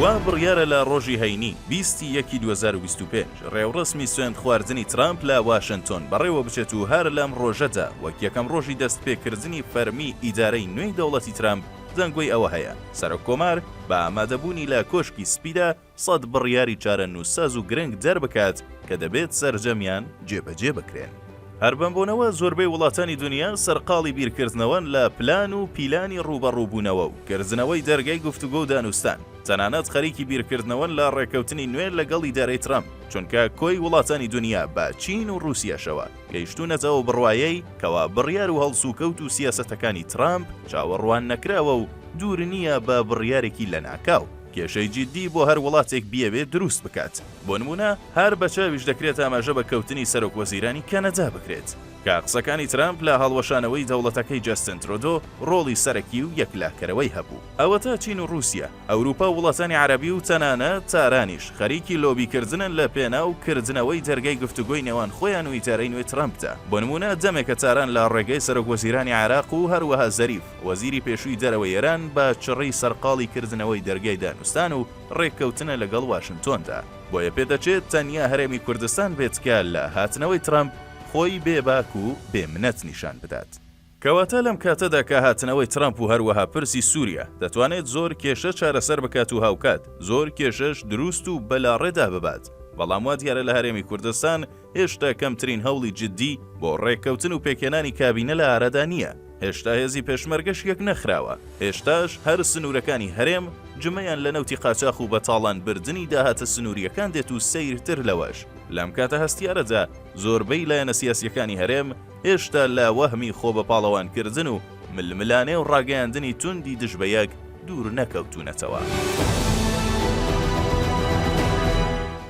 وا بڕیارە لە ڕۆژی هەینی، بیست ی یەکی دوو هەزار و بیست و پێنج، ڕێوڕەسمی سوێندخواردنی ترامپ لە واشنتۆن بەڕێوەبچێت و هەر لەم ڕۆژەدا وەک یەکەم ڕۆژی دەستپێکردنی فەرمیی ئیدارەی نوێی دەوڵەتی ترامپ دەنگۆی ئەوە هەیە سەرۆککۆمار بە ئامادەبوونی لە کۆشکی سپیدا سەد بڕیاری چارەنووسساز و گرنگ دەربکات کە دەبێت سەرجەمیان جێبەجێ بکرێن. هەر بەم بۆنەوە زۆربەی وڵاتانی دونیا سەرقاڵی بیرکردنەوەن لە پلان و پیلانی ڕووبەڕووبوونەوە و کردنەوەی دەرگای گفتوگۆ و دانوستان، تەنانەت خەریکی بیرکردنەوەن لە ڕێککەوتنی نوێ لەگەڵ ئیدارەی ترەمپ، چونکە کۆی وڵاتانی دونیا بە چین و ڕووسیاشەوە گەیشتوونەتە ئەو بڕوایەی کەوا بڕیار و هەڵسوکەوت و سیاسەتەکانی ترەمپ چاوەڕوان نەکراوە و دوور نییە بە بڕیارێکی لەناکاو. کێشەی جیددی بۆ هەر وڵاتێک بیەوێت دروست بکات. بۆ نموونە هەر بە چاویش دەکرێت ئاماژە بە کەوتنی سەرۆک وەزیرانی کەنەدا بکرێت کە قسەکانی ترامپ لە هەڵوەشانەوەی دەوڵەتەکەی جەستن ترۆدۆ ڕۆڵی سەرەکی و یەکلاکەرەوەی هەبوو. ئەوەتا چین و ڕووسیە، ئەوروپا و وڵاتانی عەرەبی و تەنانەت تارانیش خەریکی لۆبی کردنن لە پێناو کردنەوەی دەرگای گفتوگۆی نێوان خۆیان و ئیدارەی نوێی ترامپدا. بۆ نموونە دەمێکە تاران لە ڕێگەی سەرۆک وەزیرانی عێراق و هەروەها زەریف، وەزیری پێشووی دەرەوەی ئێران بە چڕی سەرقاڵی کردنەوەی دەرگای دانوستان و ڕێککەوتنە لەگەڵ واشنتۆندا، بۆیە پێدەچێت تەنیا هەرێمی کوردستان بێت کە لە هاتنەوەی ترەمپ خۆی بێ باک و بێ منەت نیشان بدات. کەواتە لەم کاتەدا کە هاتنەوەی ترەمپ و هەروەها پرسی سووریا دەتوانێت زۆر کێشە چارەسەر بکات و هاوکات زۆر کێشەش دروست و بەلاڕێدا ببات، بەڵام وا دیارە لە هەرێمی کوردستان هێشتا کەمترین هەوڵی جددی بۆ ڕێککەوتن و پێکهێنانی کابینە لە ئارادا نییە، هێشتا هێزی پێشمەرگەش یەکنەخراوە، هێشتاش هەر سنوورەکانی هەرێم جمەیان لە نەوتی قاچاخ و بەتاڵانبردنی داهاتە سنوورییەکان دێت و سەیرتر لەوەش، لەم کاتە هەستیارەدا زۆربەی لایەنە سیاسییەکانی هەرێم هێشتا لە وەهمی خۆبەپاڵەوانکردن و ململانێ و ڕاگەیاندنی توندی دژ بە یەک دوور نەکەوتوونەتەوە.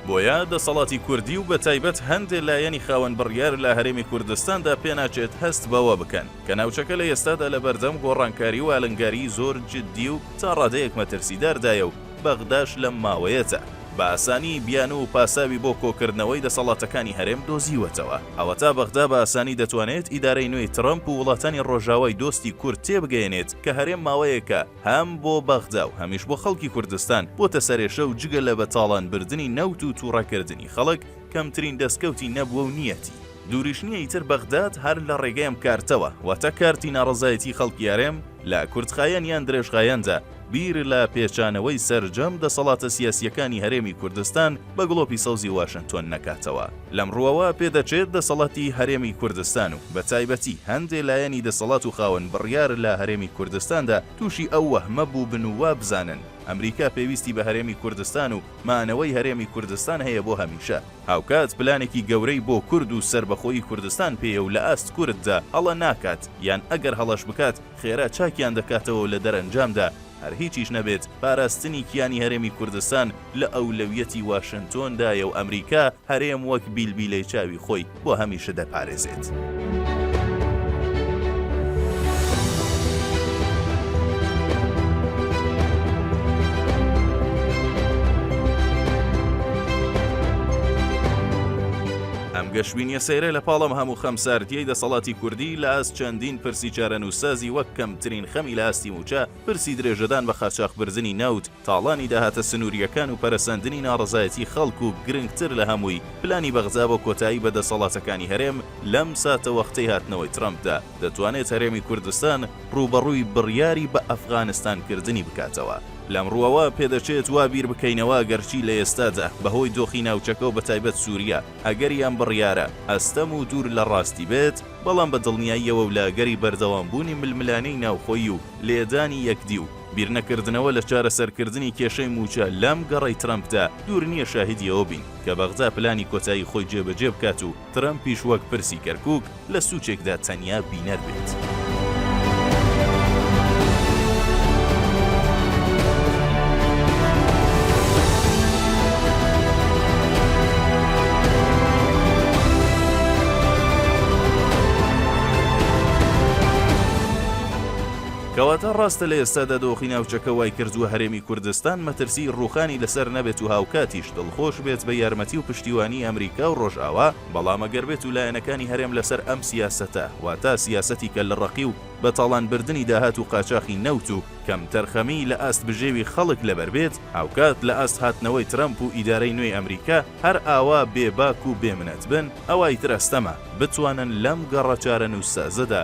بۆیە دەسەڵاتی کوردی و بەتایبەت هەندێ لایەنی خاوەن بڕیار لە هەرێمی کوردستاندا پێناچێت هەست بەوە بکەن کە ناوچەکە لە ئێستادا لەبەردەم گۆڕانکاری و ئالنگاریی زۆر جددی و تا ڕادەیەک مەترسیداردایە و بەغداش لەم ماوەیەدا بە ئاسانی بیانوو و پاساوی بۆ کۆکردنەوەی دەسەڵاتەکانی هەرێم دۆزیوەتەوە. ئەوەتا بەغدا بە ئاسانی دەتوانێت ئیدارەی نوێی ترەمپ و وڵاتانی ڕۆژاوای دۆستی کورد تێبگەیەنێت کە هەرێم ماوەیەکە هەم بۆ بەغدا و هەمیش بۆ خەڵکی کوردستان بۆتە سەرێشە و جگە لە بە تاڵانبردنی نەوت و توڕەکردنی خەڵک کەمترین دەستکەوتی نەبووە و نییەتی. دوریش نیە ئیتر بەغداد هەر لە ڕێگەی ئەم کارتەوە واتە کارتی ناڕەزایەتی خەڵکی هەرێم لە کورتخایەن یان درێژخایەندا بیر لە پێچانەوەی سەرجەم دەسەڵاتە سیاسیەکانی هەرێمی کوردستان بە گڵۆپی سەوزی واشنتۆن نەکاتەوە. لەم ڕوەوە پێدەچێت دەسەڵاتی هەرێمی کوردستان و بە تایبەتی هەندێ لایەنی دەسەڵات و خاوەن بڕیار لە هەرێمی کوردستاندا توشی ئەو وەهمە بوبن و وابزانن ئەمریکا پێویستی بە هەرێمی کوردستان و مانەوەی هەرێمی کوردستان هەیە بۆ هەمیشە. هاوکات پلانێکی گەورەی بۆ کورد و سەربەخۆیی کوردستان پێیە و لە ئاست کورددا هەڵە ناکات، یان ئەگەر هەڵەش بکات خێرا چاکیان دەکاتەوە و لە دەرەنجامدا هەر هیچیش نەبێت پاراستنی کیانی هەرێمی کوردستان لە ئەولەویەتی واشنتۆندایە و ئەمریکا هەرێم وەک بیلبیلەی چاوی خۆی بۆ هەمیشە دەپارێزێت. ئەم گەشبینیە سەیرە لە پاڵم هەموو خەمساردیەی دەسەڵاتی کوردی لە ئاست چەندین پرسی چارەنووسازی وەک کەمترین خەمی لە ئاستی موچە پرسی درێژەدان بە خاچاخ برزنی نەوت تاڵانی داهاتە سنوورییەکان و پەرەسەندنی ناڕەزایەتی خەڵک و گرنگتر لە هەمووی پلانی بەغدا بۆ کۆتایی بە دەسەڵاتەکانی هەرێم لەم ساتەوەختەی هاتنەوەی ترەمپدا، دەتوانێت هەرێمی کوردستان ڕووبەڕووی بڕیاری بە ئەفغانستانکردنی بکاتەوە. لەم ڕووەوە پێدەچێت وا بیر بکەینەوە ئەگەرچی لە ئێستادا بەهۆی دۆخی ناوچەکە و بەتایبەت سووریە ئەگەری ئەم بڕیارە ئەستەم و دوور لە ڕاستی بێت، بەڵام بە دڵنیاییەوە و لە ئەگەری بەردەوامبوونی ململانێی ناوخۆیی و لێدانی یەکدی و، بیرنەکردنەوە لە چارەسەرکردنی کێشەی مووچە لەم گەڕەی ترەمپدا، دوور نییە شاهیدی ئەوە بین کە بەغدا پلانی کۆتایی خۆی جێبەجێ بکات و ترەمپیش وەک پرسی کەرکووک لە سوچێکدا تەنیا بینەر بێت. کەواتە ڕاستە لە ئێستادا دۆخی ناوچەکە وایکردووە هەرێمی کوردستان مەترسیی ڕووخانی لەسەر نەبێت و هاوکاتیش دڵخۆش بێت بە یارمەتی و پشتیوانیی ئەمریکا و ڕۆژئاوا، بەڵام ئەگەر بێت و لایەنەکانی هەرێم لەسەر ئەم سیاسەتە، واتە سیاسەتی کەللەڕەقی و بە تاڵان بردنی داهات و قاچاخی نەوت و کەمتەرخەمیی لە ئاست بژێوی خەڵک لەبەر بێت، هاوکات لە ئاست هاتنەوەی ترەمپ و ئیدارەی نوێی ئەمریکا هەر ئاوا بێباک و بێ منەت بن، ئەوا ئیتر ئەستەمە بتوانن لەم گەڕە چارەنووسسازەدا،